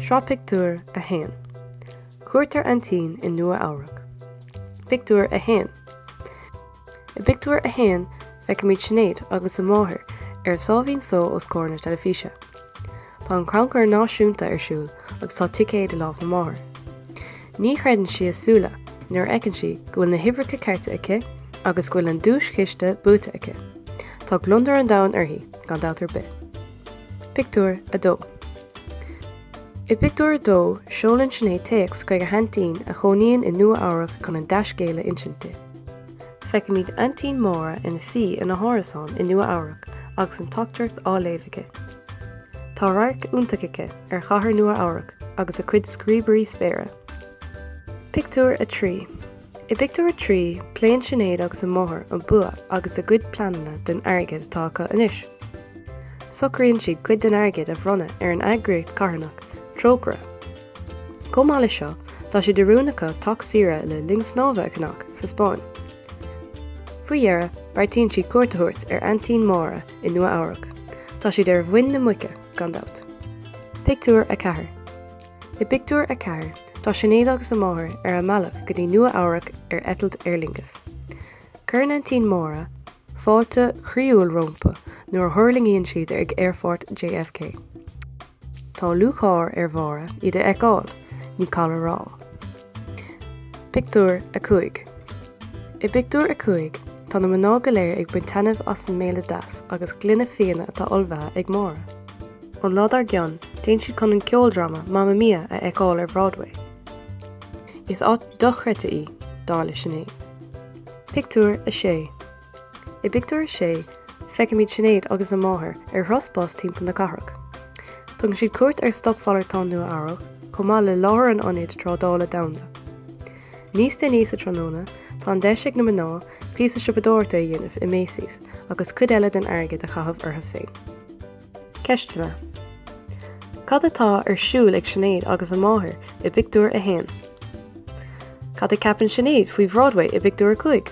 Sraith pictiúr 1. Cuairt ar aintín i Nua-Eabhrac. Pictiúr 1. I bpictiúr 1, feicimid Sinéad agus a máthair ar sáimhín só os comhair na teilifíse. Tá an Crannchur Náisiúnta ar siúl agus tá ticéad i lámh na máthar. Ní chreideann sí a súile nuair a fheiceann sí go bhfuil na huimhreacha cearta aici agus go bhfuil an duaischiste buaite aici. Tá gliondar an domhain uirthi, gan dabht ar bith. Pictiúr 2. I bpictiúr 2, seolann Sinéad téacs chuig a haintín a chónaíonn i Nua-Eabhrac chun an dea-scéal a insint di. Feicimid aintín Máire ina suí ina hárasán i Nua Eabhrac agus an teachtaireacht á léamh aici. Tá radharc iontach aici ar chathair Nua Eabhrac agus a cuid scríobairí spéire. Pictiúr 3 I bpictiúr a trí, pléann Sinéad agus a máthair an bua agus a gcuid pleananna don airgead atá acu anois. Socraíonn siad cuid den airgead a bhronnadh ar an eagraíocht carthanach, Trócaire. Chomh maith leis seo, tá sé de rún acu teach saoire le linn snámha a cheannach sa Spáinn. Faoi dheireadh, beartaíonn siad cuairt a thabhairt ar aintín Máire i Nua Eabhrac. Tá siad ar mhuin na muice, gan dabht. Pictiúr 4 I bpictiúr a ceathair, tá Sinéad agus a máthair ar a mbealach go dtí Nua Eabhrac ar eitilt Aer Lingus. Cuireann aintín Máire fáilte chroíúil rompu nuair a thuirlingíonn siad ag aerfort JFK. Tá lúcháir ar Mháire iad a fheiceáil, ní call a rá. Pictiúr 5 I bpictiúr a cúig, tá na mná go léir ag baint taitneamh as an mbéile deas agus gloine fíona atá ullmhaithe ag Máire. An lá dár gcionn, téann siad chun an ceoldráma Mamma Mia a fheiceáil ar Broadway. Is áit dochreidte í, dar le Sinéad. Pictiúr 6 I bpictiúr a sé, feicimid Sinéad agus a máthair ar thuras bus timpeall na cathrach. Tugann siad cuairt ar Stocmhalartán Nua-Eabhrac, chomh maith le láthair an Ionaid Trádála Domhanda. Níos déanaí sa tráthnóna, tá an deis ag na mná píosa siopadóireachta a dhéanamh i Macy's agus cuid eile den airgead a chaitheamh orthu féin. Ceisteanna, Cad atá ar siúl ag Sinéad agus a máthair i bpictiúr a haon? Cad a ceapann Sinéad faoi Bhroadway i bpictiúr a cúig?